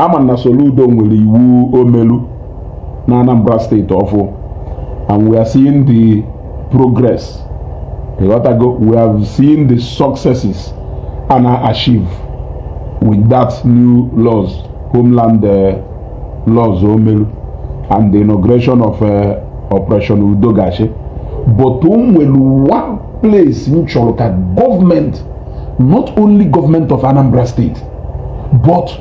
ama na Soludo nwere iwu o melu na Anambra state ọfụ and we are seeing the progress ịghọtago we have seen the successes a na-achieve with that new laws homeland uh, laws o melu and the inauguration of uh, Operation Udo ga-achị but o nwere one place m chọrọ ka gọọmenti not only government of Anambra State, but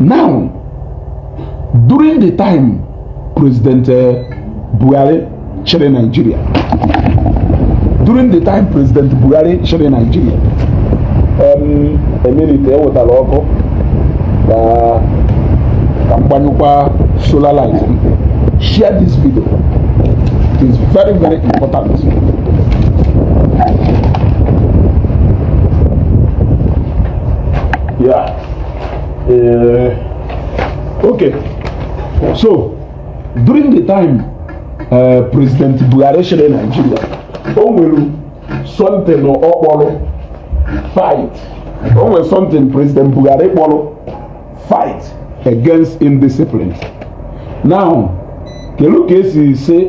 now during the time president eh, Buhari chịrị Nigeria during the time president Buhari chịrị Nigeria a minute e wetara ọkụ ka ka m gbanyụkwa solar light share this video it is very very important yeah uh, okay so during the time uh, president Buhari chịrị Nigeria o nwere something ọ kpọrọ fight o nwere something president Buhari kpọrọ fight against indiscipline now kedu ka e si si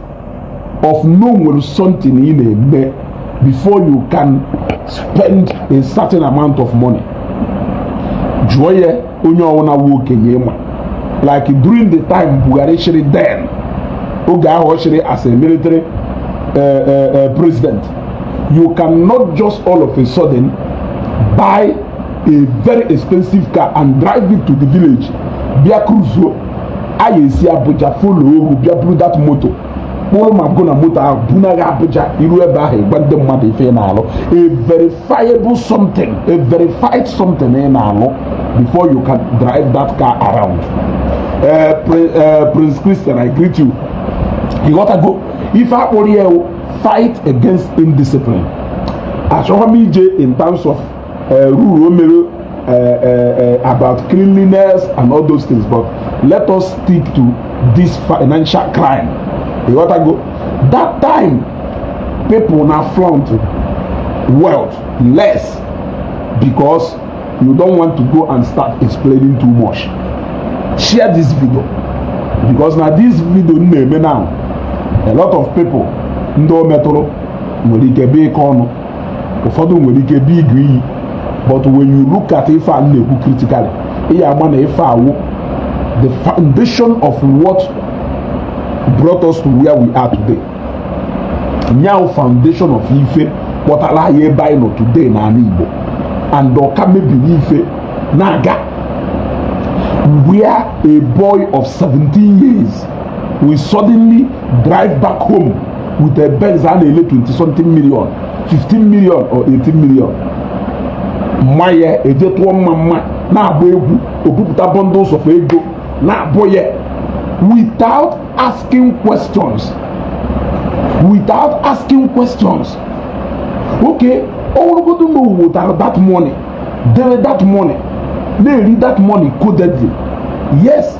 of na o nwere something ị na-eme before you can spend a certain amount of money jụọ ya onye ọwụna wụ okenye ị ma like during the time Buhari chịrị then oge ahụ ọ chịrị as a military uh, uh, uh, president you cannot just all of a sudden buy a very expensive car and drive it to the village bịa cruise a ya-esi Abuja follow up bịa buru that moto kpụrụ ma gụ na moto ahụ bunaga Abuja i ru ebe ahụ ị gwa ndị mmadụ ife ị na-alụ a verifiable something a verified something ị na-alụ before you can drive that car around eh, eh, Prince Christian I greet you ịghọtago ife a kpọrọ ya fight against indiscipline achọghị m ije in terms of uh, rule o mere uh, uh, uh, about cleanliness and all those things but let us stick to this financial crime you got to go that time people na flaunt wealth less because you don't want to go and start explaining too much share this video because na this video m na-eme now a lot of people ndị o metụrụ nwere ike bee ike ọnụ ụfọdụ nwere ike bido iwe iwe but when you look at ife a na-ekwu critically ị ya-ama na ife a wụ the foundation of what brought us to where we are today nya wụ foundation of ife kpọtara anyị ebe anyị nọ today n'ala Igbo and ọ ka mebiri ife na-aga where a boy of 17 years will suddenly drive back home with a benz a na-ele 20 something million 15 million or 18 million mma ya eje tụọ mmamma na-agba egwu o bupụta bundles of ego na-abụ ya without asking questions without asking questions okay ọ wụrụgodu na o wotara that money dere that money na-eri that money codedly yes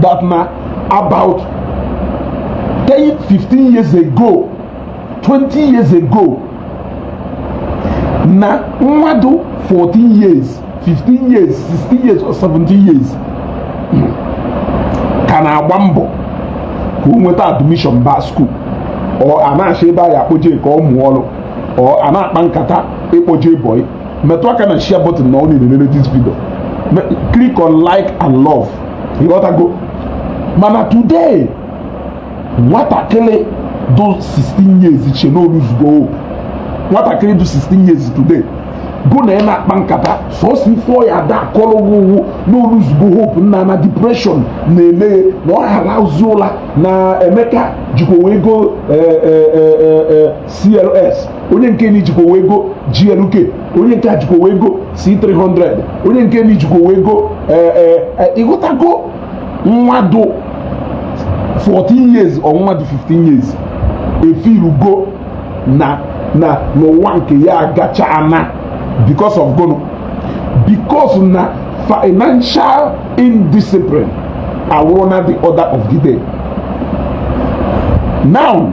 that na about 10 15 years ago 20 years ago na nwa dụ 14 years 15 years 16 years or 17 years ka na-agba mbọ ka o nweta admission ba school or a na-achọ ebe a ya akpọje ka ọ mụọ ọrụ or a na-akpa nkata ịkpọje boy metụ aka na share button na ọ na-elele this video click on like and love ịghọtago mana today nwatakịrị dụ 16 years che na o luzugo hope nwatakịrị dụ 16 years today gụ na ya na-akpa nkata sọsọ ife ọ ya da akọrọ ụ wụ na o luzugo hope na na depression na-eme ye na ọ ha alahụzi ụla na emeka jikwawego eh, eh, eh, cls onye nke ni jikwawego glk onye nke a jikwawego c300 onye nke ni jikwawego eh, eh, eh, ịghọtago nwa dụ 14 years or nwa dụ 15 years efirugo na na n'ụwa nke ya agachaana because of gụnụ because na financial indiscipline awụrụna the order of the day now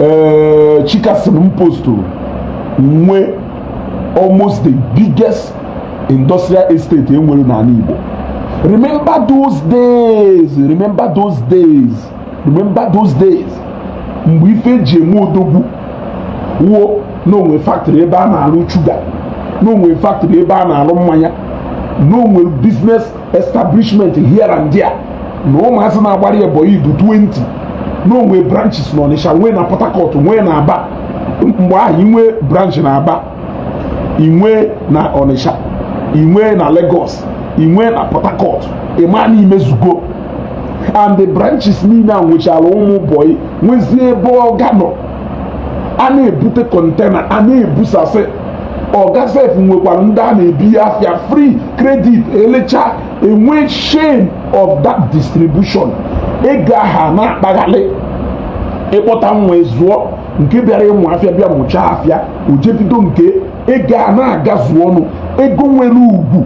ee eh, chicason m postụrụ nwe almost the biggest industrial estate e nwere n'ala igbo remember those days remember those days remember those days mgbe ife e ji eme odogwu wụ na o nwere factory ebe a na-arụ sugar na o nwere factory ebe a na-arụ mmanya na o nwere business establishment here and there na ụmụazị na-agbara ya bọyị dụ 20 na o nwe branches na Ọnịsha nwee na Port Harcourt nwee na Aba mgbe ahụ i nwe branch na Aba i nwe na Ọnịsha i nwe na Lagos i nwe na Port Harcourt ị ma na i mezugo and the branches niile a nwechara ụmụ bọyị nwezie ebe ọga nọ a na-ebute container a na-ebusasị ọga sef nwekwara ndị a na-ebinye afịa free credit e lecha e nwee chain of that distribution ego ahụ na-akpaghalị ị kpọta nwa zụọ nke bịara ịmụ afịa bịa mụchaa afịa o je bido nke ego a na-agazu ọnụ ego nwere ugwu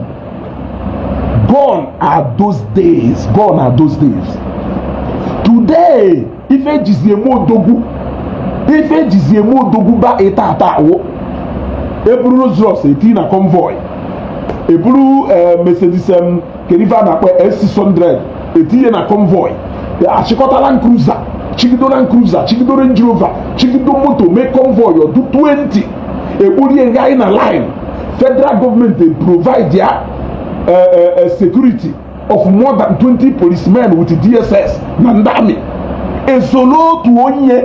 gone are those days gone are those days today ife ejizi eme odogwu by taata wụ eburu Rolls Royce etii na convoy eburu eh, Mercedes em, kedu ife a na-akpọ S600 etinye na convoy achịkọta Land Cruiser chigido Land Cruiser chigido Range Rover chigido moto mee convoy ọ dụ 20 ekporie nga anyị na line federal government provide ya eh, eh, eh, security of more than 20 policemen with DSS na ndị amị esolo otu onye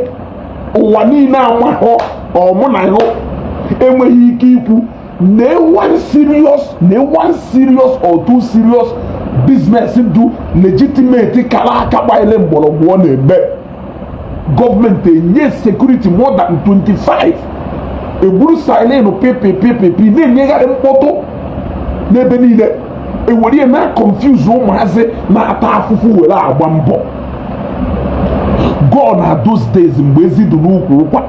ụwa niile amahụ ọmụ na ịhụ enweghị ike ikwu na one serious na one serious or two serious business dụ legitimate kara aka gbanyere mgbọrọgwụ ọ na-eme gọọmenti enye security more than 25 egburu siren pịpịpịpịpị na-enyegharị mkpọtụ n'ebe niile ewere ya na-aconfuse ụmụazị na-ata afụfụ were agba mbọ gone are those days mgbe ezi dị n'ukwu ụkwa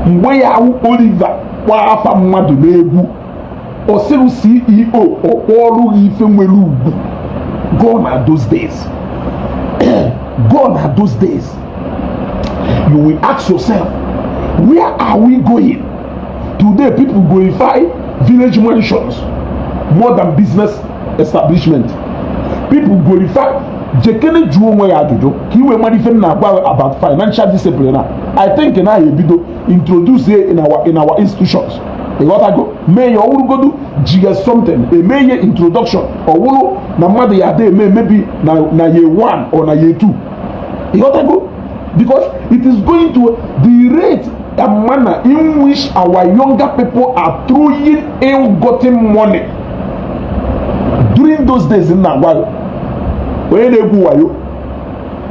mgbe ya-awụ Oliver kpọọ afa mmadụ n'egwu ọ sịrị CEO ọ kpọọ ọrụ gị ife nwere ugwu gone are those days gone are those days you will ask yourself where are we going today people glorify village mansions more than business establishment people glorify jekene jụọ onwe gị ajụjụ ka i wee mara ife m na-agwa about financial discipline i think na a ya-ebido introduce in our in our institutions ịghọtago mee ya ọ wụrụgodu jiga something emee ya introduction ọ wụrụ na mmadụ ya ada eme maybe na year one or na year two ịghọtago because it is going to the rate and manner in which our younger people are throwing ill-gotten money during those days m na-agwa onye na-egwu wayo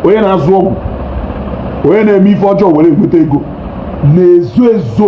onye na-azụ ọgwụ onye na-eme ife ọjọọ were nweta ego na-ezo ezo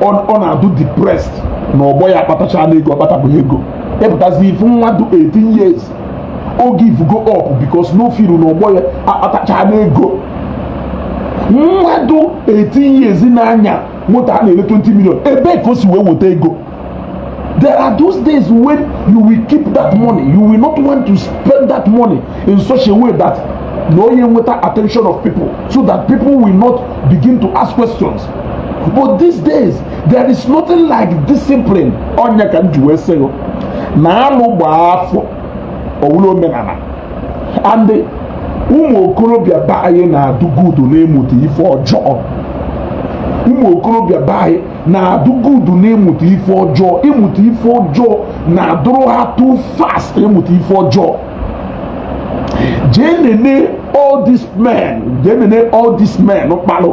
ọ na-adụ depressed na ọgbọ ya akpatachana ego ọ kpatabeghị ego ị pụtazie ị fụ nwa dụ 18 years o givego up because na ọ feel na ọgbọ ya akpatachana ego nwa dụ 18 years na-anya moto a na-ele 20 million ebee ka o si wee wote ego there are those days when you will keep that money you will not want to spend that money in such a way that na ọ ya-eweta attention of people so that people will not begin to ask questions but these days there is nothing like discipline ọ nya ka m ji wee sị na alụ gbaa afọ ọ wụrụ omenana and ụmụ okorobịa be anyị na-adụ good n'ịmụta ife ọjọọ ụmụ okorobịa be anyị na-adụ good n'ịmụta ife ọjọọ ịmụta ife ọjọọ na-adụrụ ha too fast ịmụta ife ọjọọ jee nene all these men jee nene all these men kpalụ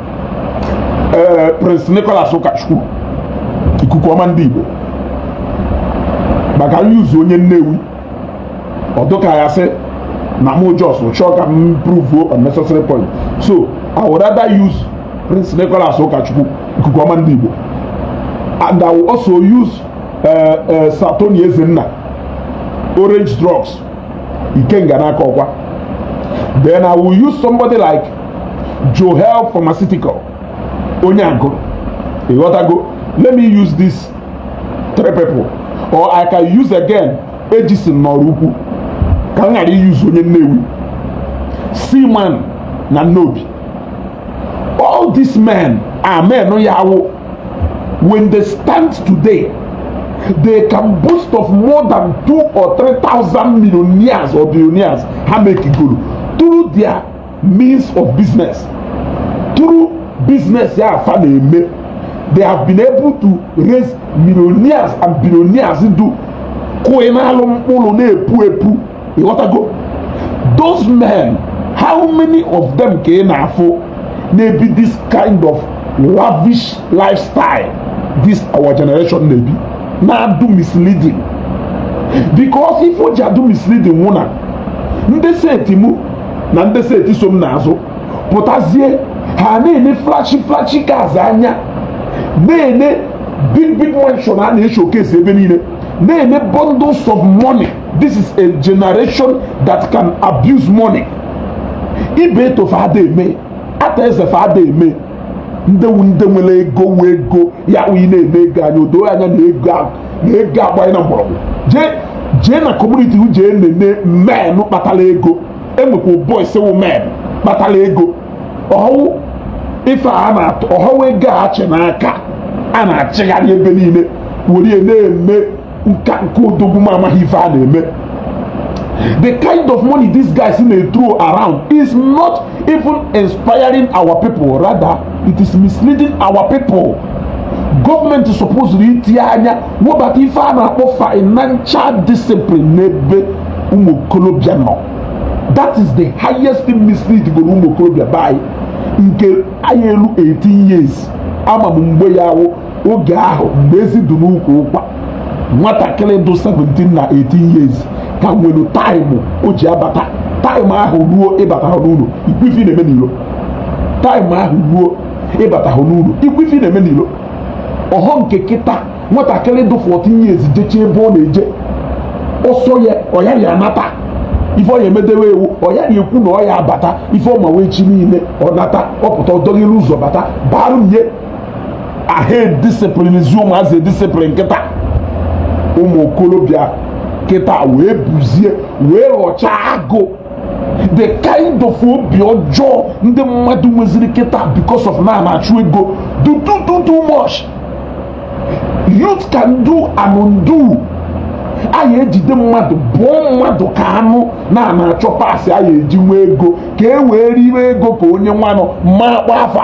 ee eh, Prince Nicholas Ụkachukwu ikuku ọma ndị Igbo maka m use onye Nnewi ọ dụ ka ya sị na mụ just chọọ ka m prove unnecessary point so I would rather use Prince Nicholas Ụkachukwu ikuku ọma ndị Igbo and I will also use uh, eh, uh, eh, Sir Tony Ezenna orange drugs Ikenga n'Akọkwa then I will use somebody like juhel pharmaceutical onye agụlụ ịghọtago let me use these three people or i can use again ejison n'ọraukwu ka m ghara i use onye nnewi seaman na nnobi all these men are men ya wụ when they stand today they can boast of more than two or three thousand millionaires or billionaires ha mekigoro through their means of business through business ya fa na-eme they have been able to raise millionaires and billionaires do kụị n'alụ mkpụrụ na-epu epu ịghọtago those men how many of them ka ị na-afụ na-ebi this kind of lavish lifestyle this our generation na-ebi na-adụ misleading because ife o ji adụ misleading wụ na ndị set mụ na ndị set so m n'azụ pụtazie ha na-ene flashy flashy cars anya na-ene big big mansion a na-eshowcase ebe niile na-ene bundles of money this is a generation that can abuse money ibe etofe ada eme ata ezefe ada eme ndị nwere ego wụ ego ya wụ ị na-ene ego anya o doo anya na ego na ego agbanyena mgbọrọgwụ jee jee na community jee nene men kpatara ego enwekwa boys wụ men kpatara ego ọhụụ ife a na-atụ ọhụụ ego a a chị n'aka a na-achịgharị ebe niile were na-eme nka nke odogwu ma amaghị ife a na-eme the kind of money these guys na-ethrow around is not even inspiring our people rather it is misleading our people gọọmenti sọpụzụrụ itinye anya wobata ife a na-akpọ financial discipline n'ebe ụmụ okorobịa nọ that is the highest thing misleadgoro ụmụ okorobịa be anyị nke anyị elu 18 years ama m mgbe ya wụ oge ahụ mgbe ezi dị n'ukwu ụkwa nwatakịrị dụ 17 na 18 years ka nwere taịmụ o ji abata taịmụ ahụ ruo ịbata n'ụlọ ikwu ife ị na-eme n'iro taịmụ ahụ ruo ịbatahụ n'ụlọ ikwu ife ị na-eme n'ilo ọhọ nke kịta nwatakịrị dụ 14 years jecha ebe ọ na-eje ọ sọ ya ọyara ya nata ife ọ ya emedewe ewu ọya ya ekwu na ọ ya abata ife ọma wee chi niile ọ nata ọ pụta ọ dọghịrị ụzọ bata baa nye ahụ edisiplin zi ụmụazị discipline kịta ụmụ okorobịa kịta wee buzie wee ghọchaa agụ the kind of obi ọjọọ ndị mmadụ nweziri kịta because of na a na-achụ ego dụ too too much youth can do and undo a ya ejide mmadụ bọọ mmadụ ka anụ na a na-achọ parts a ya eji nwee ego ka e wee riwe ego ka onye nwanụ ma kpa afa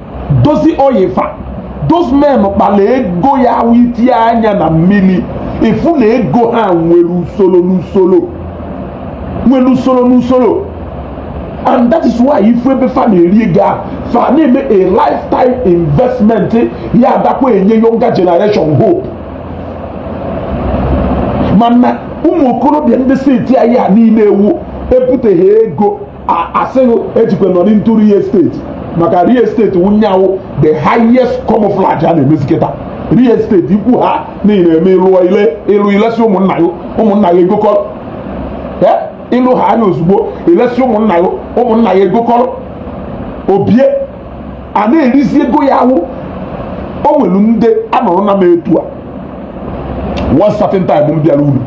Dozzy Oil fa those men kpara ego ya wụ itinye anya na mmiri ị fụ na ego ha nwere usoro n'usoro nwere usoro n'usoro and that is why ị fụ ebe fa na-eri ego a fa na-eme a lifetime investment ya adakwa enye younger generation hope mana ụmụ okorobịa ndị set anyị a niile wụ e butehaa ego a sị gị ejikwa nọrị into real estate maka real estate wụ ya wụ the highest camouflage a na-emezi kịta real estate ikwu ha niile eme ị lụ i le ị lụ i lesi ụmụnna gị ụmụnna gị egokọrọ ị lụhaa ya ozugbo i lesi ụmụnna gị ụmụnna gị egokọrọ o bie a na-erizi ego ya wụ o nwere ndị anọrọ na m etu a one certain time m bịara ụnọ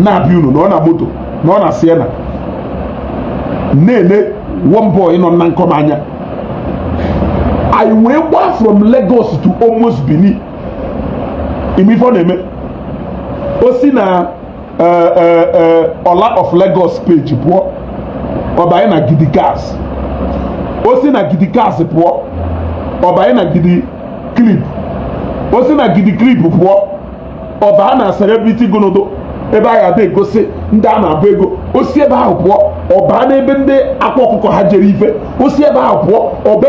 na-abịa ụnọ nọ na moto nọ na Sienna na-ele one boy nọ na nkọ m anya anyị wee gbaa from Lagos to almost Benin ị ma ife ọ na-eme o si na eh, eh, eh, Ola of Lagos page pụọ ọ banye na Gidi Cars o si na Gidi Cars pụọ ọ banye na Gidi Clip o si na Gidi Clip pụọ ọ baa na celebrity gonodo ebe a ga-ada egosi ndị a na-abụ ego o si ebe ahụ pụọ ọ baa n'ebe ndị Akwa Ọkụkọ ha jere ife o si ebe ahụ pụọ ọbe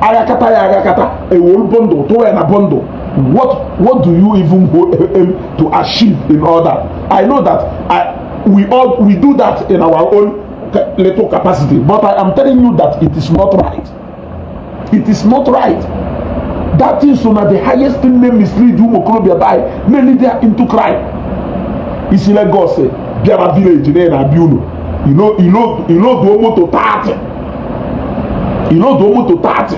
aghakata ya aghakata ewelu bundle tụwa ya na bundle what what do you even go aim to achieve in all that i know that i we all we do that in our own little capacity but i am telling you that it is not right it is not right that thing so na the highest thing na-emislead ụmụ okorobịa ma na-elead them into crime i si Lagos bịara village na na-abịa ụnọ i loduo moto 30 i loduo moto 30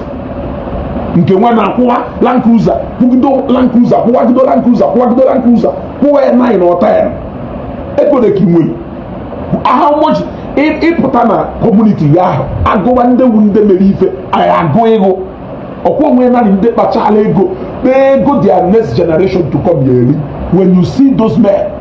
nke nwe na-akwụwa Land Cruiser kwụgido Land Cruiser kwụwagido Land Cruiser kwụwagido Land Cruiser kwụwa ya nine or ten ego ole ka i nwere how much ị pụta na community ya ahụ agụwa ndị wu ndị mere ife anyị agụ ịgụ ọkwa onwe nanị ndị kpachala ego kpaa ego their next generation to come eri when you see those men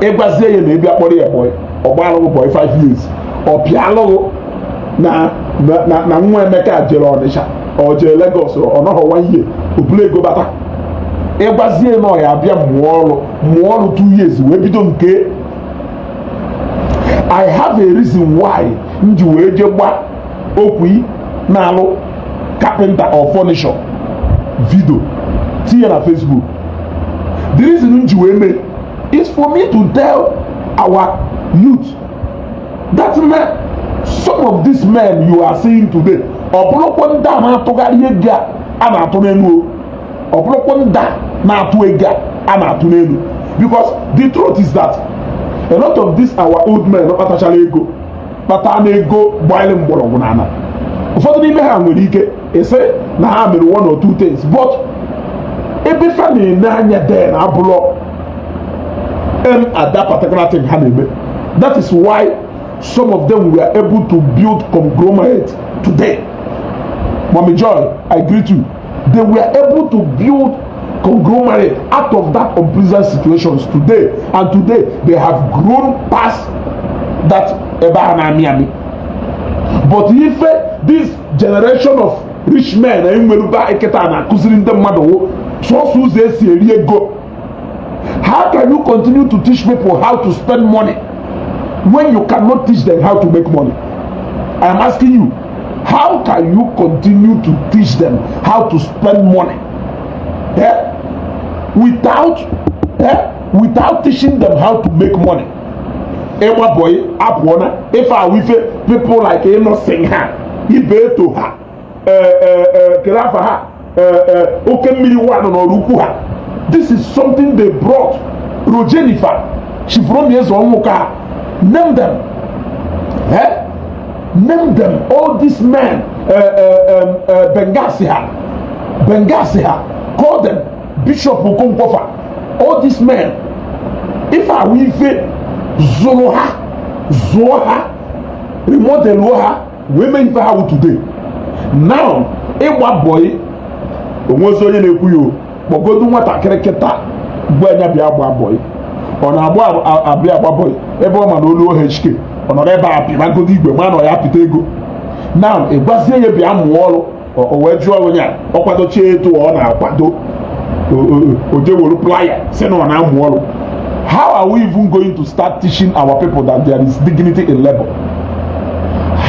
ị gwazie ya na ị bịa kpọrọ ya boy ọ gbara gị boy 5 years ọ pịalụ gị na na nwa Emeka jere Ọnịcha o jee Lagos ọ nọghọ 1 year o bulu ego bata ị gwazie na ọ ya-abịa mụọ ọrụ mụọ ọrụ 2 years wee bido nke ya I have a reason why m ji wee jee gbaa Okwy na-alụ carpenter or furniture video tinye na Facebook the reason m ji wee mee ya is for me to tell our youth that na some of these men you are seeing today ọ bụrọkwa ndị a na-atụgharị ego a na-atụ n'elu ọ bụrọkwa ndị a na-atụ ego a na-atụ n'elu because the truth is that a lot of these our old men kpatachara ego kpata na ego gbalụ mgbọrọgwụ n'ala ụfọdụ n'ime ha nwere ike ị sị na ha mere one or two things but ebe fa na-ene anya then abụlọ na that particular thing ha na-eme that is why some of them were able to build conglomerate today Mommy Joy, I greet you. they were able to build conglomerate out of that unpleasant situations today and today they have grown past that ebe a na-amị amị but ife this generation of rich men anyị nweruba kịta na-akụziri ndị mmadụ sọsọ ụzọ e si eri ego How can you continue to teach people how to spend money when you cannot teach them how to make money? I am asking you, how can you continue to teach them how to spend money eh? without eh? without teaching them how to make money? Ịgba bọyị apụọ na ife ahụ ife people like ịnọsịn ha ibe eto ha kere afa ha oke mmiri wanụ n'Oraukwu ha this is something they brought Rojenny fa Chief Rommy Ezeonwuka name them eh? name them all these men uh, uh, um, uh, bengasi ha bengasi ha call them Bishop Okonkwo fa all these men ife a wụ ife zụrụ ha zụọ ha remodeluo ha wee mee ife ha wụ today now ịgba bọyị o nwezi onye na-ekwu ya kpọgodu nwatakịrị kịta gwa nya bịa gbaa bọyị ọ na-agba abịa agba bọyị ebe ọ ma na o luo HK ọ nọrọ ebe a pịmagodo igwe ma na ọ ya-apịta ego now ị gwazie ya bịa mụọ ọlụ o wee jụọ onye a ọ kwadochie etu ọ na-akwado o jee wolu plier sị na ọ na-amụ ọrụ how are we even going to start teaching our people that there is dignity in labor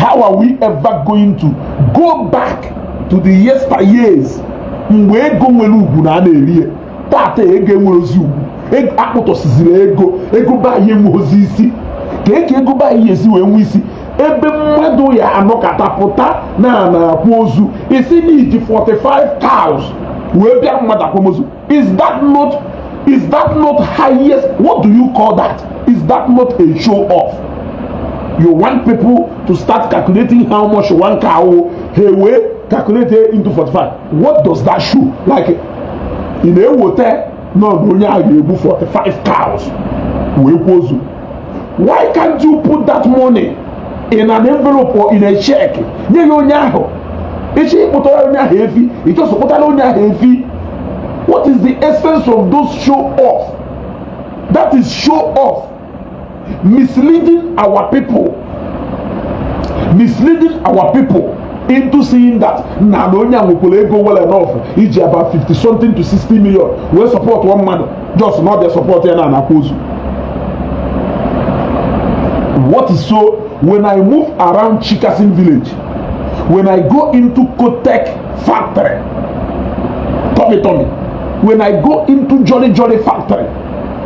how are we ever going to go back to the yesteryears mgbe ego nwere ugwu na a na-eri ya tata ego enwerọzi ugwu akpụtọsiziri ego ego be anyị enweghịzi isi kee ka ego be anyị esi wee nwee isi ebe mmadụ ya-anọkata pụta na a na-akwa ozu ị sị na i ji 45 cows wee bịa mmadụ akwamozu is that not is that not highest what do you call that is that not a show off you want people to start calculating how much one cow ha ewee calculate into 45 what does that show like ị na-aghọta nọ na onye ahụ ga-egbu 45 cows wee kwaa ozu why can't you put that money in an envelope or in a check nye ya onye ahụ ị chịkpụtara onye ahụ efi ị chụkpụtara onye ahụ efi what is the essence of those show off that is show off misleading our people misleading our people into seeing that na na onye a nwekwara ego well enough iji about 50 something to 60 million wee support one mmadụ just not the support ya na anakwa ozu what is so when i move around chikasin village when i go into kotek factory tommy tommy when i go into jolly jolly factory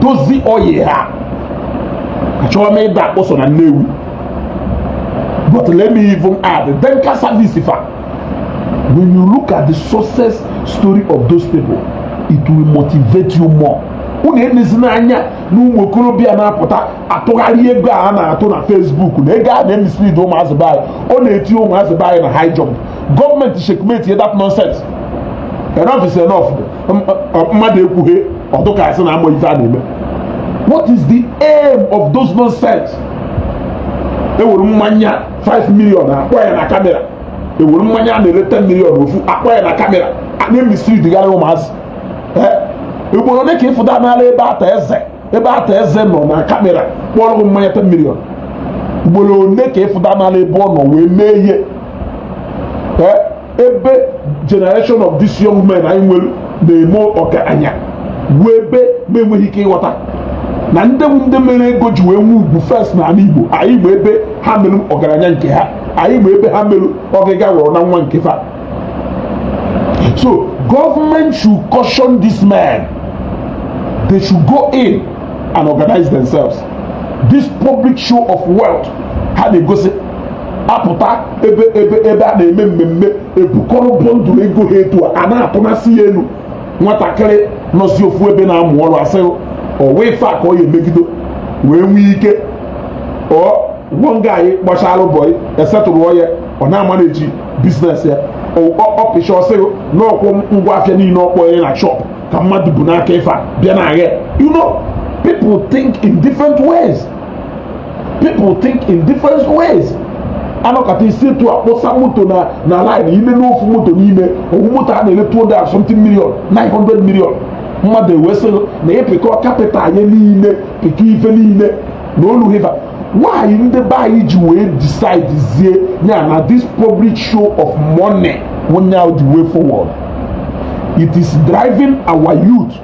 Dozzy Oil ha achọrọ m ịda akpọ sọ na Nnewi but let me even add Denca Service fa when you look at the success story of those people it will motivate you more unu enezina anya na ụmụ okorobịa na-apụta atụgharị ego a na-atụ na Facebook na ego a na-emislead ụmụazị be anyị ọ na-eti ụmụazị be anyị na high jump gọọmenti checkmate that nonsense enough is enough mmadụ ekwughị ọ dụ ka a sị na amarọ ife a na-eme what is the aim of those nonsense ewere mmanya 5 million akpọ ya na kamera ewere mmanya a na-ere 10 million ofu akpọ ya na kamera a na-emisleadgharị ụmụazị ugboro ole ka ị fụtụnala ebe Arthur Eze nọ na kamera kpọrọ gị mmanya 10 million ugboro ole ka ị fụtụnala ebe ọ nọ wee mee ihe ebe generation of these young men anyị nwere na-eme ọgaranya bụ ebe m na-enweghị ike ịghọta na ndị bụ ndị mere ego ji wee nwee ugwu first na ala Igbo anyị ma ebe ha mere ọgaranya nke ha anyị ma ebe ha mere ọga ọgaranya nke fa so government should caution these men they should go in and organize themselves this public show of wealth ha na-egosi apụta ebe ebe ebe a na-eme mmemme ebukọrọ bundle ego ha etu a na-atụnasị ya elu nwatakịrị nọzi ofu ebe na-amụ ọrụ asị ọ wụ ife a ka ọ ya emegido wee nwee ike ọ gwọ nga anyị gbachara boy esetụrụ ya ọ na-amanage business ya ọ pịcha ọ sị gị n'ọkwụ ngwa afịa niile ọ kpọ ya na shop ka mmadụ bu n'aka ife a bịa na-agha you know people think in different ways people think in different ways a nọkata e si etu a kpọsa moto na na line ịma n'ofu moto n'ime ọ wụ moto a na-ele 200 something million 900 million mmadụ ewee sị gị na ị pịkọ capital anyị niile pịkọ ife niile na o luhi ife a why ndị be anyị ji wee decidezie ya na this public show of money wụ nya the way forward it is driving our youth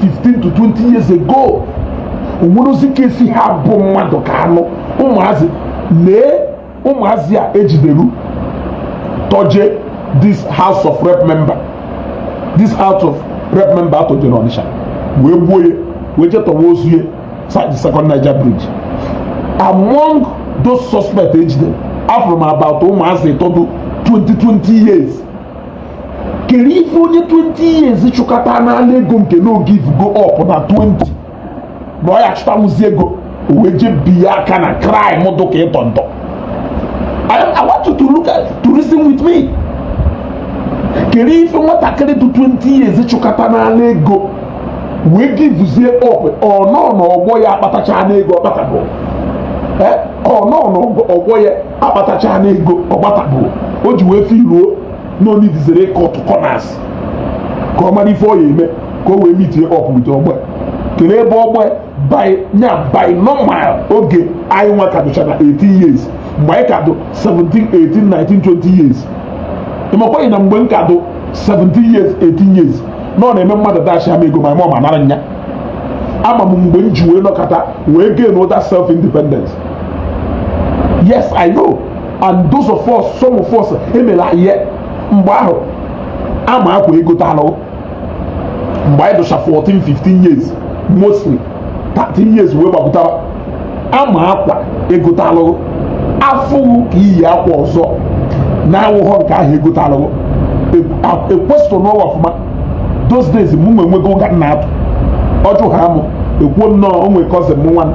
15 to 20 years ago o nwerozi ka esi ha bụ mmadụ ka anụ ụmụazị lee ụmụazị a ejideru tọje this house of rep member this house of rep member a tọje na Ọnịsha wee gbuo ya wee je tọwa ozu ya side second Niger bridge among those suspects ejidere afụrụ m about ụmụazị ịtọ dụ 20 20 years kere ife onye 20 years chụkatanala ego nke na o givego up na 20 na ọ ya chụtanwụzi ego wee je biya aka na crime dụ ka ịtọ ntọ I want you to look at to reason with me kere ife nwatakịrị dị 20 years chụkatanala ego wee givezie up ọọ n'ọgbọ ya akpatachana ego ọ kpatabọ ọọ n'ọgbọ ya akpatachana ego ọ kpatabọ o ji wee feeluo na ọ neediziri ịcutụ corners ka ọ mara ife ọ ya eme ka o wee meetie up with ọgbọ ya kere ebe ọgbọ ya bi nya by normal oge anyị nwa ka dụcha na 18 years mgbe anyị ka dụ 17 18 19 20 years ị makwaghị na mgbe m ka dụ 17 years 18 years na ọ na-eme mmadụ dashia m ego mama m anara nya ama m mgbe m ji wee nọkata wee gain that self independence yes i know and those of us some of us emela ihe mgbe ahụ a ma akwa egotalụ mgbe anyị dụcha 14 15 years mostly 13 years wee gbapụtara a ma akwa egotalụ a fụ gị ka i yi akwa ọzọ na-awụghọ nke ahụ egotalụ ekwesịrị n'ụwa ọfụma those days mụ nwe nwego ụka na-atụ ụjọ ha amụ ekwuo nnọọ onwe cousin m nwanụ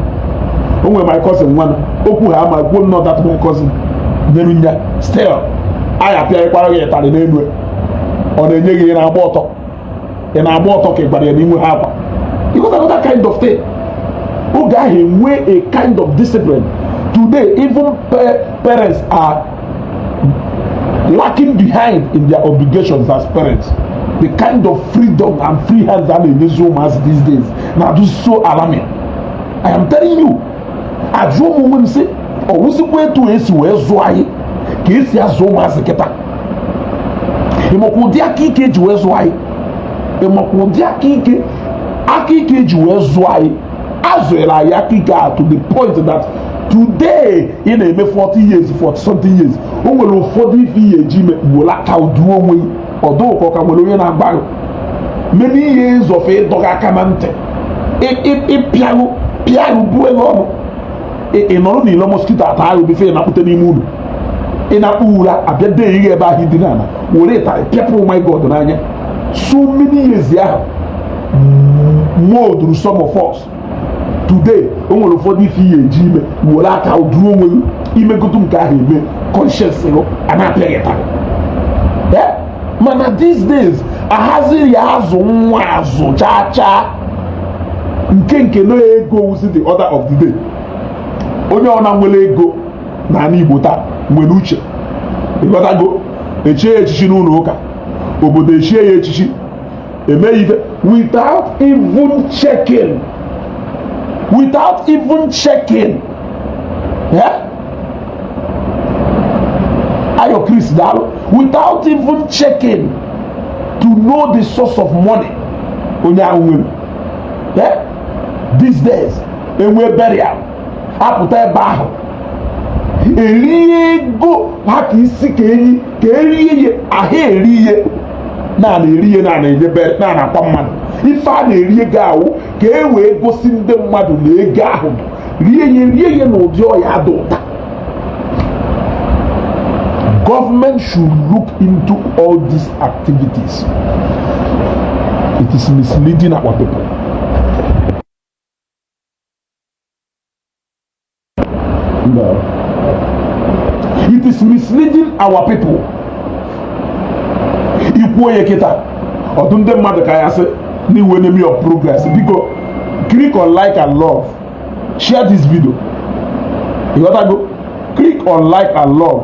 onwe my cousin nwanụ okwu ha ama ekwuo nnọọ that my cousin nyere nya still a ya-apịakwara gị ịtarị n'elu ọ na-enye gị ị na-agba ọtọ ị na-agba ọtọ ka ị gwara ya na i nweha akwa you got another kind of thing oge ahụ enwe a kind of discipline today even parents are lacking behind in their obligations as parents the kind of freedom and free hands a na-enyezi ụmụazị these days na-adụ so alarming i am telling you ajụọ m onwe m sị ọ wụzikwa etu esi wee zụọ anyị ka esi azụ ụmụazị kịta ịmakwa ụdị aka ike eji wee zụọ anyị ịmakwa ụdị aka ike aka ike eji wee zụọ anyị azụrụ anyị aka ike to the point that today ị na-eme 40 years 40 something years o nwere ụfọdụ ife ihe eji ime were aka duo onwe ọ dụkọ ka nwere onye na-agba many years of ịdọ gị aka na ntị ịpịarụ pịarụ bue gị ọnụ ị nọrọ n'ilo mọskito ata ahụ bife ị na-akpụte n'ime ụnọ ị na-eku ụra abịa dee ihe ebe ahụ ị dina were ịtarị pịapụ oh my god n'anya so many years ahụ molduru some of us today o nwere ụfọdụ ife ihe eji ime were aka duru onwe gị imegodu nke ahụ eme conscience gị a na-apịa gị taa mana these days anazịghị azụ nwa azụ chaa chaa nke nke na ego wuzi the order of the day onye ọ na nwere ego na ala Igbo taa nwere uche ịghọtago echie ya echichi n'ụlọ ụka obodo echie ya echichi eme ife without even checking without even checking eh? ayo chris daalụ without even checking to know the source of money onye ahụ nwere eh? these days enwe burial apụta ebe ahụ erie ego ha ka isi ka enyi ka erie ihe ahụ eri ihe na-ana eri ihe na-ana enye ebe a na-akwa mmadụ ife a na-eri ego ahụ ka e wee gosi ndị mmadụ na ego ahụ rie ihe rie ihe n'ụdị ọ ya-ada ụda government should look into all these activities it is misleading our people No. It is misleading our people. I kwuo ya kịta ọ dụ ndị mmadụ ka ya sị na ị wụ enemy of progress biko click on like and love share this video. Ịghọtago click on like and love.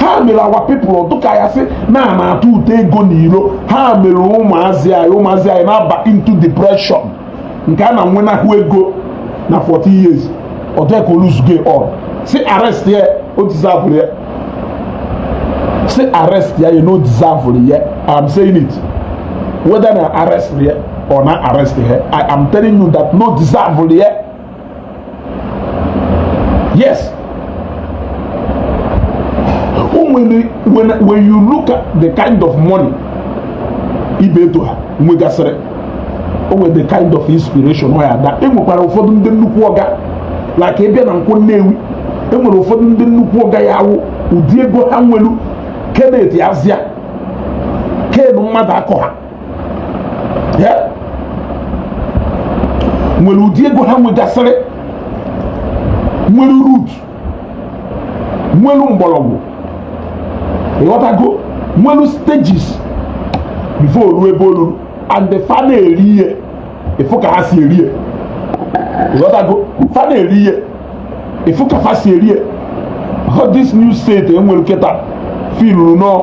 ha mere our people dụka ya sị na a na-atụta ego n'iro ha mere ụmụazị anyị ụmụazị anyị na-aba into depression nke na-enwenahụ ego na 40 years ọ dịka oluzuge ọ si arrest ya o deserve ya si arrest ya na o deserve ya i'm saying it whether na arrest ya or na arrest ya i am telling you that na o deserve ya Yes. When, when, when you look at the kind of money Ibeto ha nwegasịrị o nwere the kind of inspiration ọ ya ada e nwekwara ụfọdụ ndị nnukwu ọga like ị bịa na Nkwọ Nnewi e nwere ụfọdụ ndị nnukwu ọga ya awụ ụdị ego ha nwelu Kenneth Azia ken mmadụ akọ ha nwere ụdị ego ha nwegasịrị nwere root nwere mgbọrọgwụ ịghọtago nwere stages before ruo ebe o ruru and the fa na-eri ihe ị fụ ka ha si eri ihe ịghọtago fa na-eri ihe ị fụ ka fa si eri ihe this new set e nwere kịta filuru nọ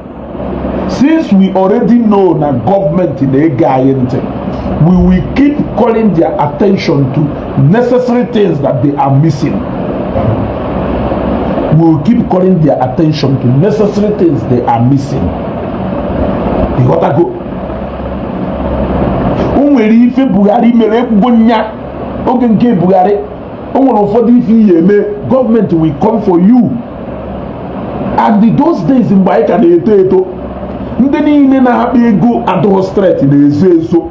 since we already know na government na-ege anyị ntị we will keep calling their attention to necessary things that they are missing we will keep calling their attention to necessary things they are missing ịghọtago o nwere ife Buhari mere ekwugo m ya oge nke Buhari o nwere ụfọdụ ife ị ya-eme government will come for you and those days mgbe anyị ka na-eto eto ndị niile na-akpa ego adụghọ straight na-ezo ezo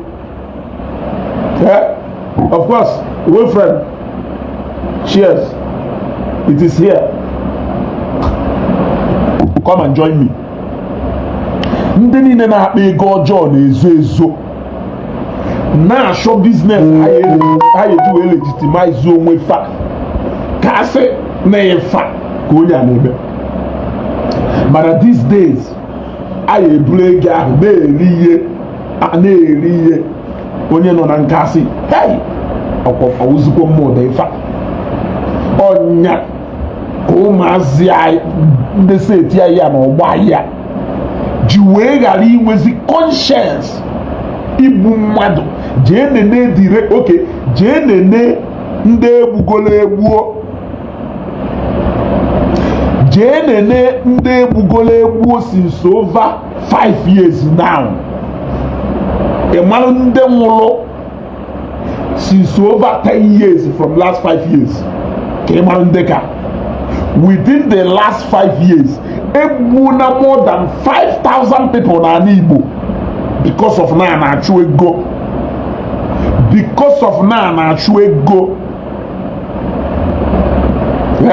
of course wey friend cheers it is here come and join me ndị niile na-akpa ego ọjọọ na-ezo ezo na-achọ business ha ya-eji wee legitimize onwe fa ka a sị na ifa ka onye a na-eme mana these days a ya-eburu ego ahụ na-eri ihe a na-eri ihe onye nọ na nka sị hei ọ wụzikwa mmụ ụdị ifa ọ nya ka ụmụazị ndị set ya na ọgbọ ya ji wee ghara inwezi conscience igbu mmadụ jee nene dire okay jee nene ndị e gbugolo egbuo jee nene ndị e gbugolo egbuo since over 5 years now ị mara ndị nwụrụ since over 10 years from last 5 years ka ị mara ndị ka within the last 5 years e gbuona more than 5000 people n'ala Igbo because of na a na-achụ ego because of na a na-achụ ego ee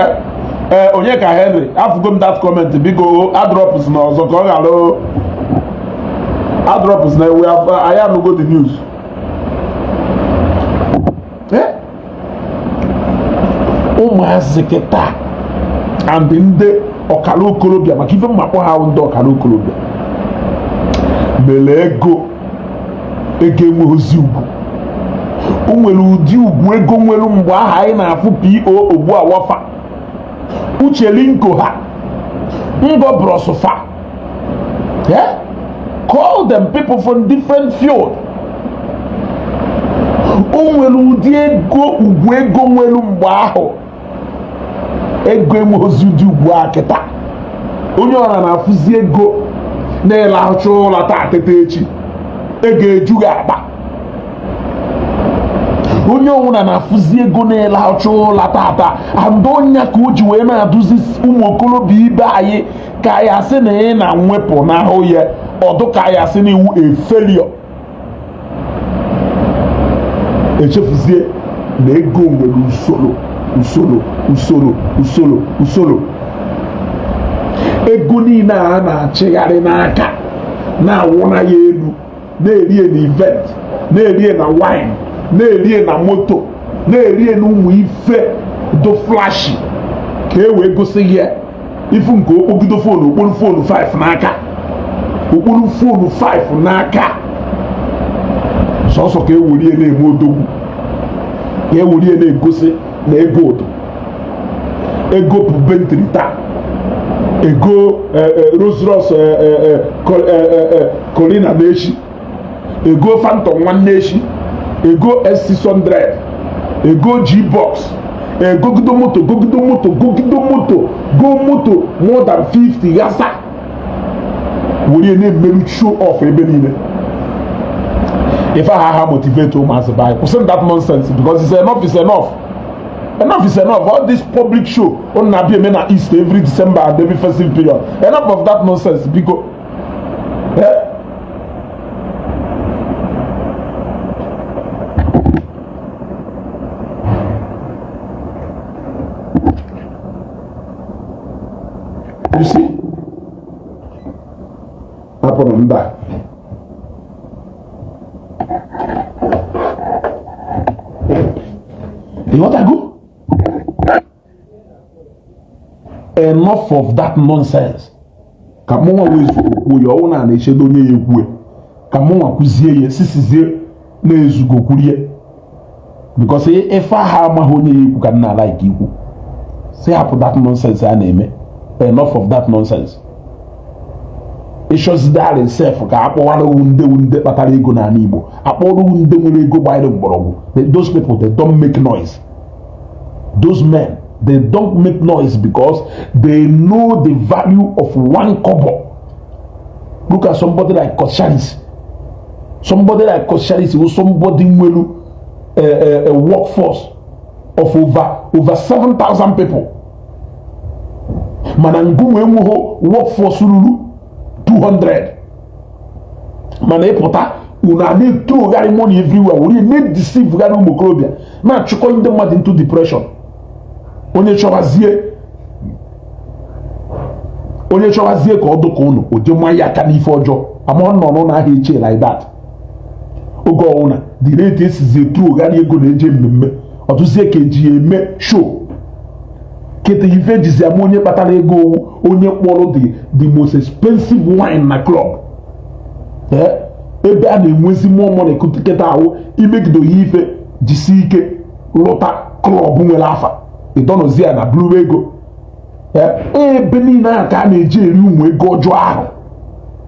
eh, eh, Onyeka Henry afụgo m that comment biko adropzina ọzọ ka ọ ghara adropzina ewe anyị anụgo the news ụmụazị kịtaa and ndị ọkara okorobịa maka ife m na-akpọ ha wụ ndị ọkara okorobịa mere ego ego enweghịzi ugwu o nwere ụdị ugwu ego nwere mgbe aha anyị na-afụ PO Ogbuawa fa Uche Linko ha Ngobros fa Yeah? Call them people from different field. O nwere ụdị ego ugwu ego nwere mgbe ahụ ego enwerozi ụdị ugwu a kịta onye ọwụna na-afụzi ego na ịlahụcha ụla taa teta echi ego eju gị akpa onye ọwụna na-afụzi ego na ịlahụcha ụla taata and ọ nya ka o ji wee na-adịzi ụmụ okorobịa ibe anyị ka ya sị na ị na mwepụ n'ahụ ya ọ dụ ka ya sị na ị wụ a failure echefuzie na ego nwere usoro usoro usoro usoro usoro ego niile a na-achịgharị n'aka na-awụ na ya elu na-erie na event na-erie na wine na-erie na moto na-erie na ụmụ ife dọ flashy ka e wee gosi ya ị fụ nke o kpogido fonu o kporo fonu 5 n'aka o kporo fonu 5 n'aka sọsọ ka e werie na-eme odogwu ka e werie na-egosi na ego dọ e gopụ Bentley taa e go e, e, Rolls Royce e, Cullinan echi e go Phantom nwanne echi e go S600 e go G-Box e go gogido moto gogido moto gogido moto go moto more than 50 yasa were na-emeru show off ebe niile ife aha amotivate ụmụazị bịa kwụsị that nonsense because it's enough it's enough enough is enough all this public show unu na-abịa eme na east every december and every festive period enough of that nonsense because you see hapụrụ mba ịghọtago enough of that nonsense ka mụnwa wee zuo kwuo ya ọ wụ na a na-echedo onye ya-ekwu ya ka mụnwa kwuzie ya sisizie na-ezugo kwurie because ife aha amaghị onye ya ikwu ka m na-alike ikwu sị hapụ that nonsense a na-eme enough of that nonsense ịchọzidari sef ka akpọwara owu ndị wu ndị kpatara ego n'ala Igbo akpọrọ owu ndị nwere ego gbanyere mgbọrọgwụ those people they don't make noise those men they don't make noise because they know the value of one kobo look at somebody like Coscharis somebody like Coscharis wụ somebody nwelu a eh, eh, eh, workforce of over over 7,000 people mana ngị nwa enweghị workforce ruru 200 mana ịpụta unu a na-ethrowgharị money everywhere were na-edeceivegharị ụmụ okorobịa na-achụkọ ndị mmadụ into depression onye chọwazie onye chọwazie ka ọ dụka unu o je manye aka n'ife ọjọọ ama ọ nọ n'ụlọ ahịa eche like that oge ọwụna the rate e sizi ethrowgharị ego na-eje mmemme ọ dịzie ka eji ya eme show kịta ife e jizi ama onye kpatara ego owu onye kpọrọ the the most expensive wine na club eh? ebe a na-enwezi mmụọ mọnị kịta ahụ imegide oyi ife jisi ike luta club nwere afa ịdọnọzi ya na buru ego ebe niile ahụ ka a na-eji eri ụmụ ego ọjọọ ahụ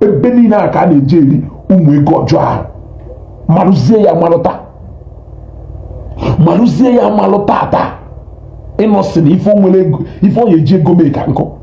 ebe niile ahụ ka a na-eji eri ụmụ ego ọjọọ ahụ marụzie ya marụta marụzie ya malụ tata ị nọ sị na ife onye eji ego mee ka nkụ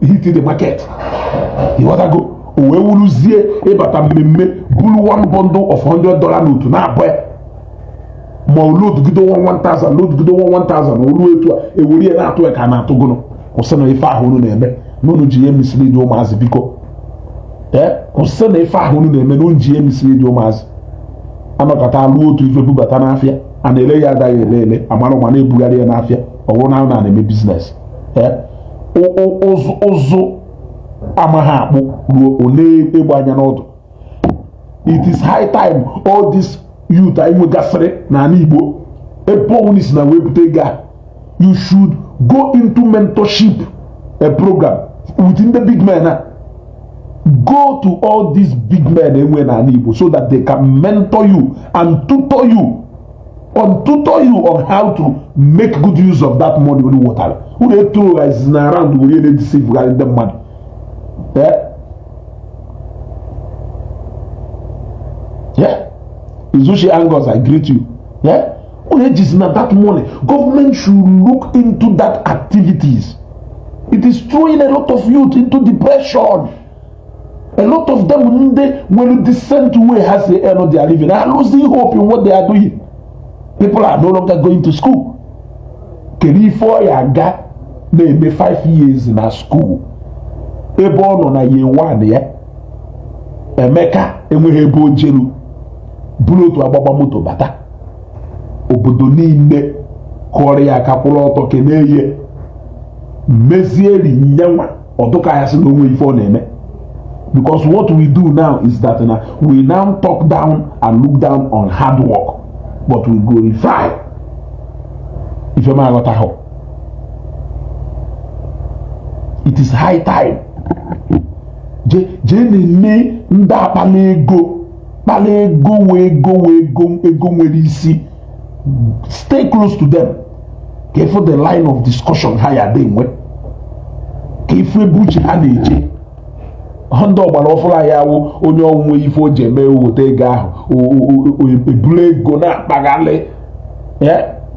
hit the market ịghọtago o wee wuruzie ịbata mmemme buru one bundle of 100 dollar note na-abụ ya ma o loadgido 1000 loadgido 1000 o ruo etu a ewere ya na-atụ ya ka a na-atụ gụnụ kwụsị na ife ahụ unu na-eme na unu ji ya emislead ụmụazị biko ee kwụsị na ife ahụ unu na-eme na unu ji ya emislead ụmụazị anọkọta alụ otu ife bubata n'afịa a na-ele ya adaghị ele ele amara ma na-ebugharị ya n'afịa ọ bụrụ na a na-eme biznes ụzụ amaghị akpụ ruo o lee egbe anya n'ọdụ it is high time all this youth anyị nwegasịrị n'ala Igbo ebe ọwụna isi na wee bute ego a you should go into mentorship program with ndị big men a go to all these big men enwe n'ala Igbo so that they can mentor you and tutor you and tutor you on how to make good use of that money unu wetara unu ethrowzina around were na-edeceivegharị ndị mmadụ eh? eh? Izuchi Angus, I greet you. Yeah? Eh? Unu ejizina that money, government should look into that activities. It is throwing a lot of youth into depression. a lot of them ndị nwere decent way ha si earn their living are losing hope in what they are doing people are no longer going to school kedu ife ọ ya aga na-eme 5 years na school ebe ọ nọ na year one ya emeka enweghị ebe o jelu buru otu agbagba moto bata obodo niile kụọrọ ya aka kwụrụ ọtọ kelee ya mezieri nyenwa ọ dụ ka ya sị na o nwe ife ọ na-eme because what we do now is that na we now talk down and look down on hard work but we glorify ife m aghọtaghị it is high time jee na-eme ndị a kpala ego kpala ego wee ego nwere isi stay close to them ka ị fụ the line of discussion ha ya dị nwe ka ị fụ ebe uche ha na-eje ndị ọgbara ọfụrụ a ya wụ onye ọ wụ nwe ife o ji eme o weta ego ahụ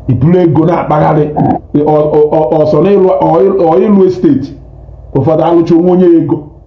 ebulu ego na-akpagharị ọsọ n'ịlụ estate ụfọdụ alụcha onwe onye ego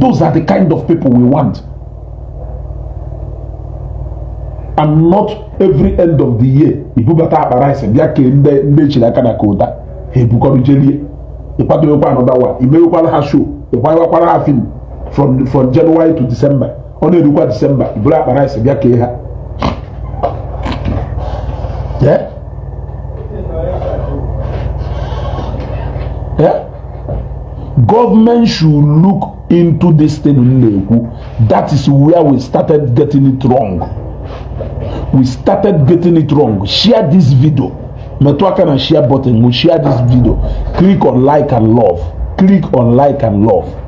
Those are the kind of people we want. And not every end of the year i bubata akpa rice bịa kee ndị echiri aka na kota ha ebukọrọ jee lie ị kwadowekwa another one i mewekwara ha show ị kwayewakwara ha film from January to December ọ na-erukwa disemba bụrụ akpa rice bịa kee ha gọọmenti should look into this thing na-ekwu that is where we started getting it wrong we started getting it wrong share this video metụ aka na share button share this video click on like and love click on like and love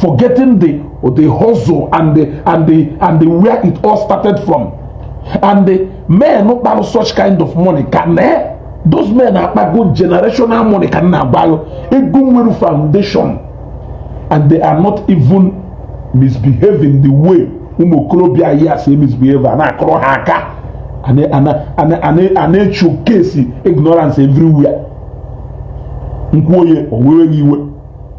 forgetting the the hustle and the where it all started from and the men kpara such kind of money ka na those men akpago generational money ka na-akpa ego nwere foundation and they are not even misbehaving the way ụmụ okorobịa anyị si misbehave a na-akụrụ ha aka a na-eshowcase ignorance everywhere m kwuo ya o wee iwe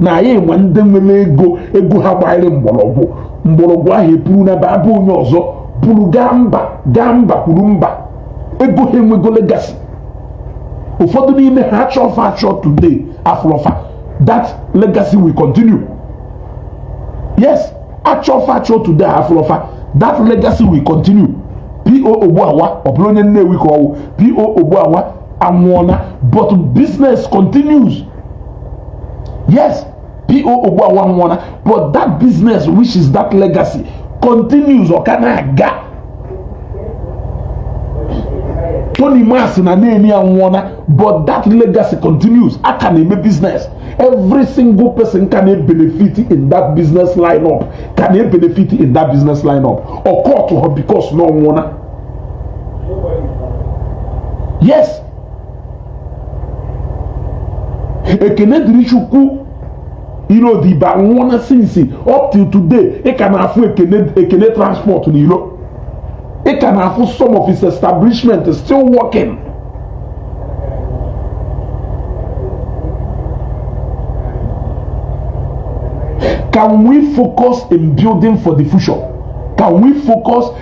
na anyị nwe ndị nwere ego ego ha gbanyere mgbọrọgwụ mgbọrọgwụ ahụ epuru na ba abụ onye ọzọ pụrụ gaa mba kwuru mba ego ha enwego legacy ụfọdụ n'ime ha a chọọ fa achọ today a fụrọ fa that legacy will continue yes a chọọ fa achọ today a fụrọ fa that legacy will continue po ogbuawa ọ bụrụ onye nnewi ka ọ wụ po ogbuawa anwụọna but business continues yes po ogbuawa anwụọna but that business which is that legacy continues ọ ka na-aga tonimas na neni anwụọna but that legacy continues a ka na-eme business every single person ka na-ebenefit in that business line up ka na-ebenefit in that business line up ọ kwatuho because na ọ nwụọna yes ekene dịrị chukwu ilodibe anwụọla since up till today ị ka na-afụ ekene transport n'iro ị ka na-afụ some of his establishment still working Can we focus in building for the future? Can we focus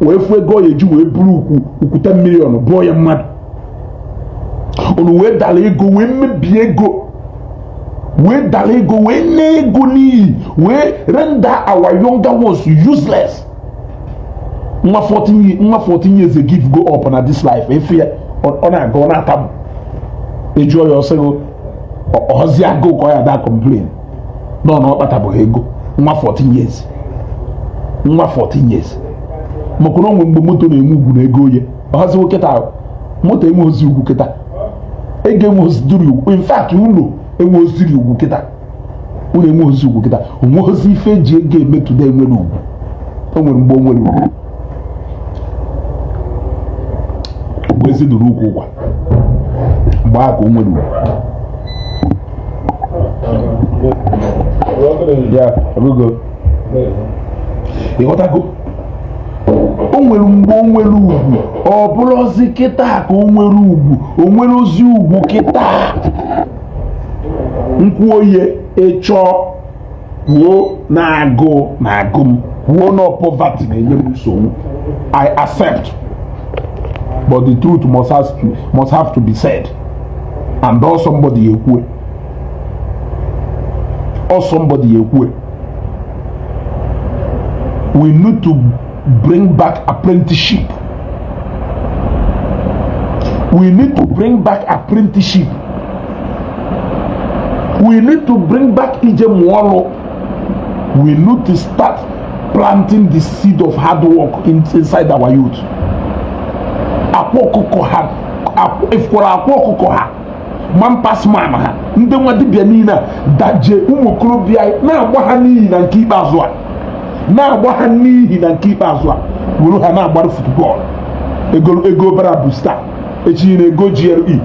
wee fụ ego ya e ji wee buru ukwu ten million bụọ ya mmadụ unu wee dara ego wee mebie ego wee dara ego wee naa ego n'iyi wee render our younger ones useless nwa 14 years give go up na this life ị fụ ya ọ na-aga ọ na-atamu a jụọ ya ọ sị gị ọzi agụụ ka ọ ya daa complain nọ na ọ kpatabeghị ego nwa 14 years nwa 14 years maka na o nwere mgbe moto na-enwe ugwu na ego oye ọhazi kịta moto enwerọzi ugwu kịta ego enwerọzi duru ugwu in fact ụlọ enwerọzi duru ugwu kịta ụlọ enwerọzi ugwu kịta o nwerọzi ife e ji ego eme today nwere ugwu o nwere mgbe o nwere ugwu mgbe ezi dụ n'ukwu ụkwa mgbe ahụ ka o nwere ugwu ya ebugo ị ghọtago o nwere mgbe o nwere ugwu ọ bụrọzi kịta ka o nwere ugwu o nwerọzi ugwu kịta m kwuo ihe ị chọọ kwuo na agụụ na-agụ m kwuo na poverty na-enye m nsogbu i accept but the truth must have to be said and ọ somebody ya-ekwu ya ọ somebody ya-ekwu ya we need to bring back apprenticeship we need to bring back apprenticeship we need to bring back ije mụọ ọrụ we need to start planting the seed of hard work inside our youth akwa ọkụkọ ha ị fụkwara akwa ọkụkọ ha man pass man ha ndị nwa dibịa niile a daje ụmụ okorobịa na-agba ha n'ihi na nke ikpeazụ a na-agba ha n'ihi na nke ikpeazụ a were ha na-agbara football ego ego bara bụ star echi na ego GRE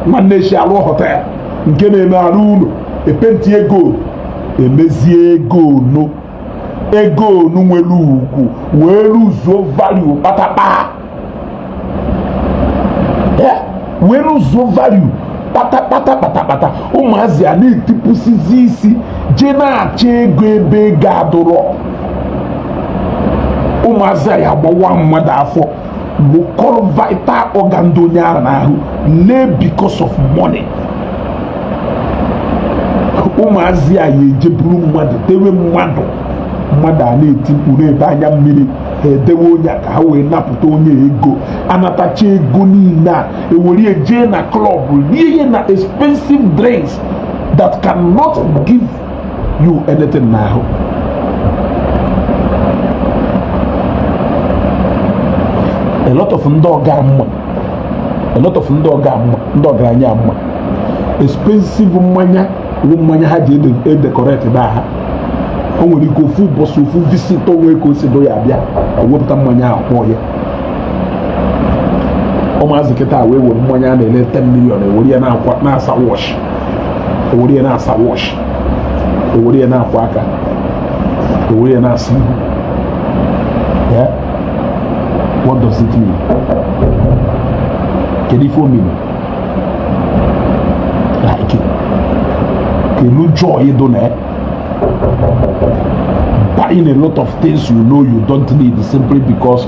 nwanne echi arụọ hotel nke na-eme arụọ ụlọ epenti ego emezie ego ono ego onu nwere ugwu wee luzuo value kpatakpata wee luzuo value kpatakpata ụmụazị a na-etipụsizi isi jee na-achọ ego ebe ego adụrọ ụmụazị a ya-agbawa mmadụ afọ wekọlụ vital organ dị onye ahụ n'ahụ lee because of money ụmụazị a ya eje buru mmadụ tiwe mmadụ mmadụ a na-eti mkpu na-ebe anya mmiri ha edewe onye ka ha wee napụta onye ego anatacha ego niile a e were je na club rie ihe na expensive drinks that cannot give you anything n'ahụ a lot of a lot of ndị ọgaranya m ma expensive mmanya bụ mmanya ha ji edecorate be ha o nwere ike ofu ụbọchị ofu visitor nwee ka o si dị ya abịa ewepụta mmanya ahụ kpọọ ya ụmụazị kịta wee were mmanya a na-ele 10 million e were ya na-asa watch o were ya na-asa watch o were ya na-akwọ aka o were ya na-asa ihu ya what does it mean kedu ife ọ mean like kelu joy dị na buying a lot of things you know you don't need simply because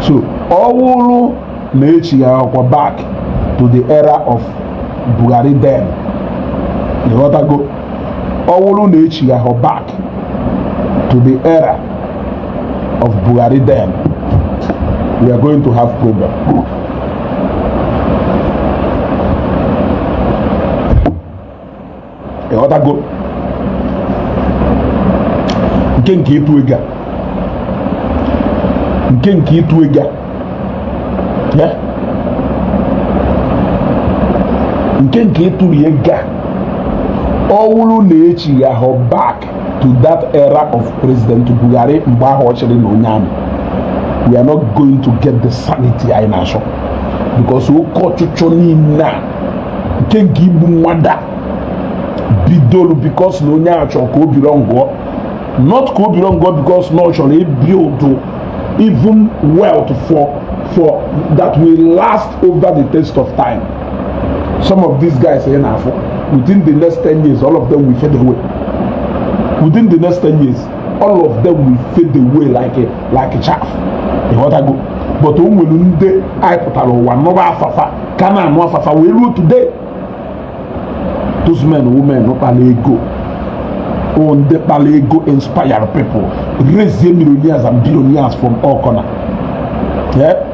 so ọ wụrụ na echighahọkwa back to the era of Buhari then ịghọtago ọ wụrụ na echighahọ back to the era of Buhari then we are going to have problem. ịghọtago nke nke ịtụ ego nke nke ịtụ ego nke nke ịtụrụ ego ọ wụrụ na echighahọ back to that era of president buhari mgbe ahụ ọ chịrị na onye army we are not going to get the sanity anyị na-achọ because oke ọchịchọ niile a nke nke igbu mmadụ a bidolu because na onye a chọrọ ka ọ belongụọ not ka ọ belongụọ because na ọ chọrọ ibuild even wealth for for that will last over the test of time some of these guys ị na-afụ within the next 10 years all of them will fade away within the next 10 years all of them will fade away like a, like a chaff ịghọtago but o nwere ndị anyị pụtara ụwa nụba afa fa ka na-anụ afa fa wee ruo today those men women kpara ego o ndị kpara ego inspire people raise millionaires and billionaires from all corner yeah?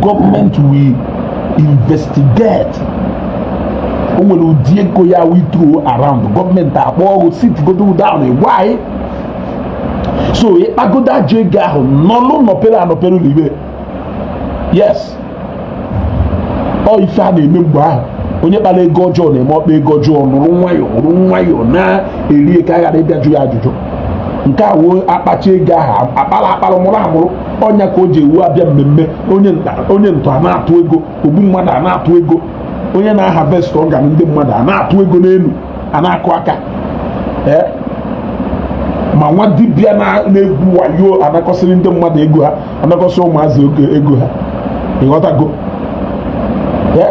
government will investigate o nwere ụdị ego ya we throw around gọọmenti akpọọ ghụ sit godo down gwa anyị so ị kpagodo ajọ ego ahụ nọlụ nọpere anọpere n'ime yes ọ ife a na-eme mgbe ahụ onye kpara ego ọjọọ na-eme ọ kpaa ego ọjọọ nọrọ nwayọọ nọrọ nwayọọ na-eri ka a ghara ịbịa jụ ya ajụjụ nke a wụ a kpacha ego ahụ akpara akpara mụrụ amụrụ ọ nya ka o ji ewu a bịa mmemme onye ntọ a na-atụ ego ogbu mmadụ a na-atụ ego onye na-aharvest organ ndị mmadụ a na-atụ ego n'elu a na-akụ aka eh? ma nwa dibịa na-egwu wayo anakọsịrị ndị mmadụ ego ha anakọsị ụmụazị ego ha ị ghọtago eh?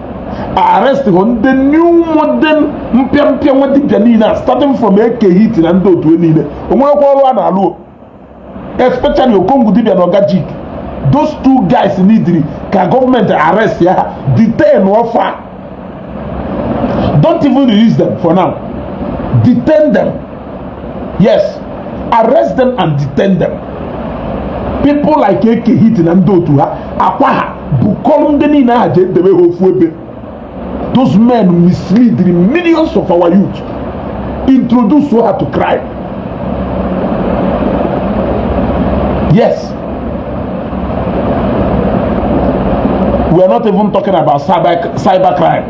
arrest hụ ndị new modern mpịampịa nwa dibịa niile a starting from eke hit na ndị otu e niile o nwerekwa ọrụ a na-alụ especially okongwu dibịa na ọgajik those two guys neediri ka gọọmenti arrestie ha detain fa don't even release them for now detain them yes arrest them and detain them people like eke hit na ndị otu ha akwa ha bukọrọ ndị niile ahụ jee debe ha ofu ebe those men mislead the millions of our youth introduce ha to crime yes we are not even talking about cyber cyber crime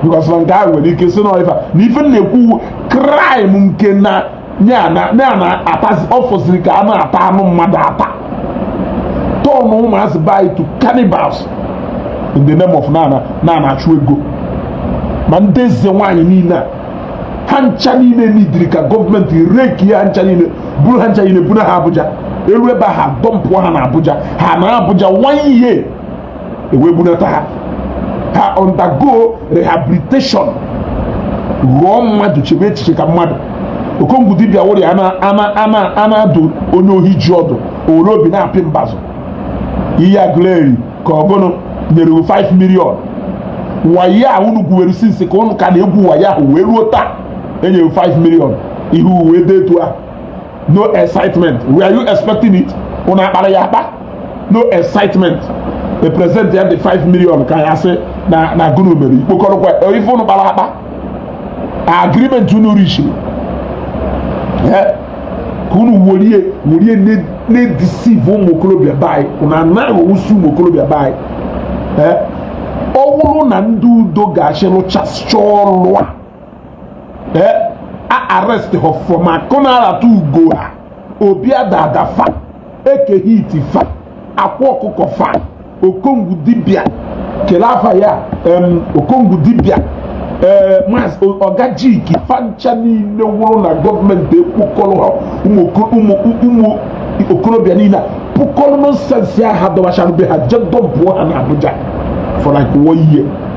because na nke a nwere ike sị na ife na ife na-ekwu crime nke na ya na-atazi ọ fọziri ka a na-ata anụ mmadụ ata turn ụmụazị be anyị to cannibals in the name of na a na-achụ ego ma ndị eze nwaanyị niile ha ncha niile neediri ka gọọmenti rekie ha ncha niile buru ha ncha niile buna ha Abuja e ruo ebe ahụ dumpụọ ha na Abuja ha nọọ Abuja one year e wee bunata ha ha undergo rehabilitation ghọọ mmadụ chebe echiche ka mmadụ okongwu dibia wụrụ a na-adụ onye ohi ji ọdụ o were obi na-apị mbazụ ihe agụleri ka ọ gụnụ nyere hụ 5 million wayo a unu gwuwere since ka ụnụ ka na-egwu wayo ahụ wee ruo taa e nyere 5 million ihu wee dị etu a no excitement were you expecting it ụnụ akpara ya akpa no excitement e presentie the 5 million ka ya sị na na gụnụ mere ị kpokọrọkwa ife ụnụ kpara akpa agreement unu reachiri ka unu werie werie na-edeceive ụmụ okorobịa be anyị unu anaghị owusi ụmụ okorobịa be anyị ọ bụrụ na ndị udo ga-achị rụchasịcha ọrụ a ee eh, a arrest ha from akonarata ugo ha obi adada fa Eke Hit fa Akwa Ọkụkọ fa okongwu dibia kele afa ya okongwu dibia ee eh, maazị ọgajiki fa ncha niile wụrụ na gọọmenti ekpokọrọ ha ụmụ okorobịa niile kpokọrọ nonsense a ha dọbachara be ha je dọmpụọ ha na Abuja for like one year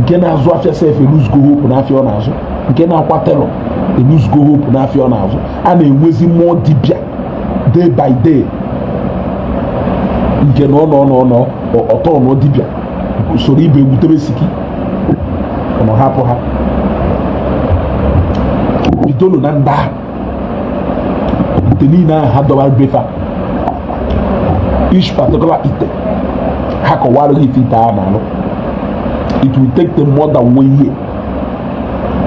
nke na-azụ afịa sef eluzgo hope n'afịa ọ na-azụ nke na-akwa tailor eluzgo hope n'afịa ọ na-azụ a na-enwezi more dibịa day by day nke na ọ nọ nọ nọ ọ tọnọ dibịa o soro ibe egwutebe siki ọ hapụ ha idol na ndị ahụ ite niile ahụ ha dọwara be fa each particular ite ha kọwara gị ife ite a na-alụ it will take them more than one year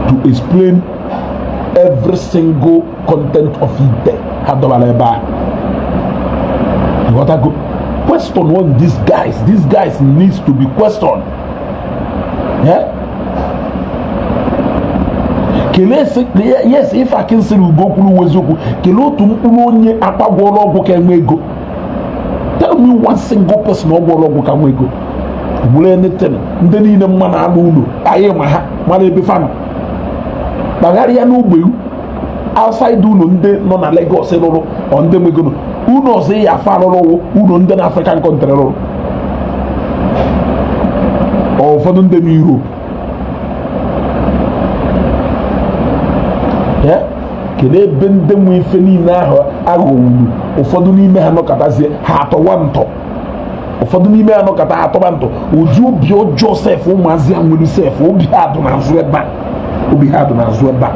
to explain every single content of ite ha dọbara ebe a ị ghọtago question on these guys these guys needs to be questioned kelee yes ife akinsiri ugo kwuru wụ eziokwu kelee otu mkpụrụ onye Akwa gwọrọ ọgwụ ka nwe ego tell me one single person ọ gwọrọ ọgwụ ka nwe ego bụrụ anything ndị niile m ma na-alụ ụlọ anyị ma ha mara ebe fa nọ kpagharịa n'ogbe outside ụlọ ndị nọ na Lagos rụrụ ọ ndị megoro ụlọ ọzọ ya fa rụrụ ụlọ ndị na African country rụrụ ụfọdụ ndị na Europe kedu ebe ndị nwe ife niile ahụ aghọwuru ụfọdụ n'ime ha nọkatazie ha atọwa ntọ ụfọdụ n'ime ha nọkata atọba ntọ ụdị obi ọjọọ sef ụmụazị a nwere sef obi ha dụ n'azụ ebe a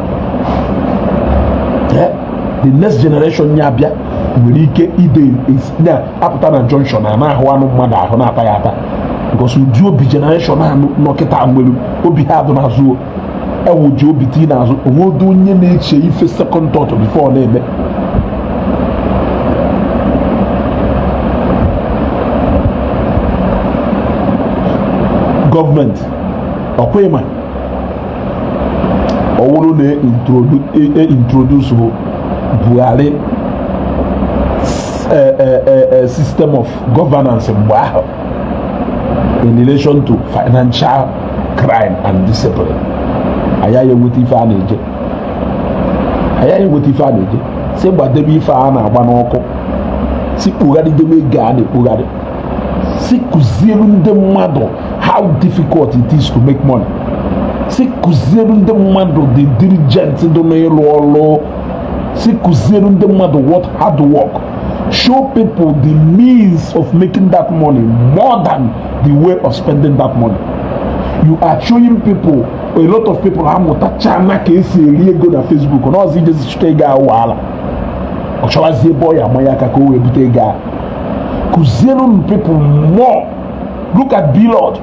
the next generation ya abịa nwere ike ịdị na-apụta na junction a na-ahụ anụ mmadụ ahụ na-ata ya ata because ụdị obi generation a nọ kịta nwere obi ha dụ n'azụ ewuji obi tii n'azụ o nwedo onye na-eche ife second thought before ọ na-eme gọọmenti ọ kwa ị ma ọ wụrụ na e introduce e, e, Buhari e, system of governance mgbe ahụ in relation to financial crime and discipline anyị anyị enweta ife a na-eje anyị anyị enweta ife a na-eje si gbadebe ife a na-agba n'ọkụ si kpugharịdebe ego a na-ekpugharị si kụziere ndị mmadụ how difficult it is to make money si kụziere ndị mmadụ the diligent dị n'ịrụ ọrụ si kụziere ndị mmadụ what hard work show people the means of making that money more than the way of spending that money you are showing people a lot of people ha amụtachaana ka e si eri ego na Facebook na ọzọ ijezi chụta ego ahụ ala ọ chọwazi ebe ọ ya-amanye aka ka o wee bute ego ahụ kụziere people more look at Blord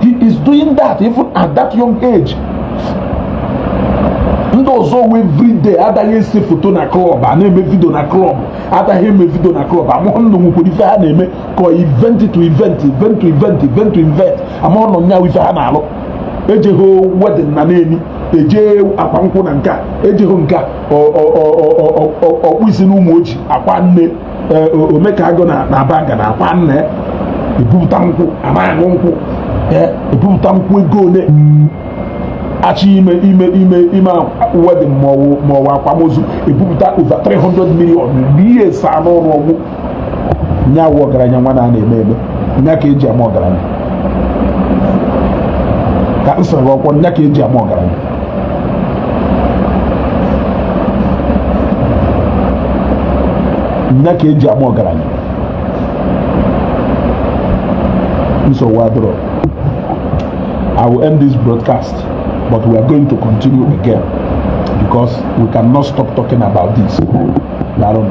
he is doing that even at that young age ndị ọzọwa everyday adaghị ese foto na club a na-eme video na club adaghị eme video na club amahụ m na o nwekwara ife ha na-eme ka event to event event to event event to event amahụ m na o nwere ife ha na-alụ ejeghị wedding na Neni eje akwa nkwụ Nanka ejeghị nke ọkpụ isi n'Ụmụoji akwa nne eh, Omekagụ na Abagana akwa nne ya ebupụta nkwụ a na-awụ nkwụ eh, ebupụta nkwụ ego ole achị ime ime ime ime wedding ma ọ wụ akwamozu ebupụta over 300 million n'ihe saa n'ụlọ ọgwụ nya wụ ọgaranya nwa na na-eme eme nya ka eji ama ọgaranya ka nsọrọ ọkwọ nya ka eji ama ọgaranya nya ka eji ama ọgaranya nsogbu adịrọ I will end this broadcast but we are going to continue again because we cannot stop talking about this. Darun.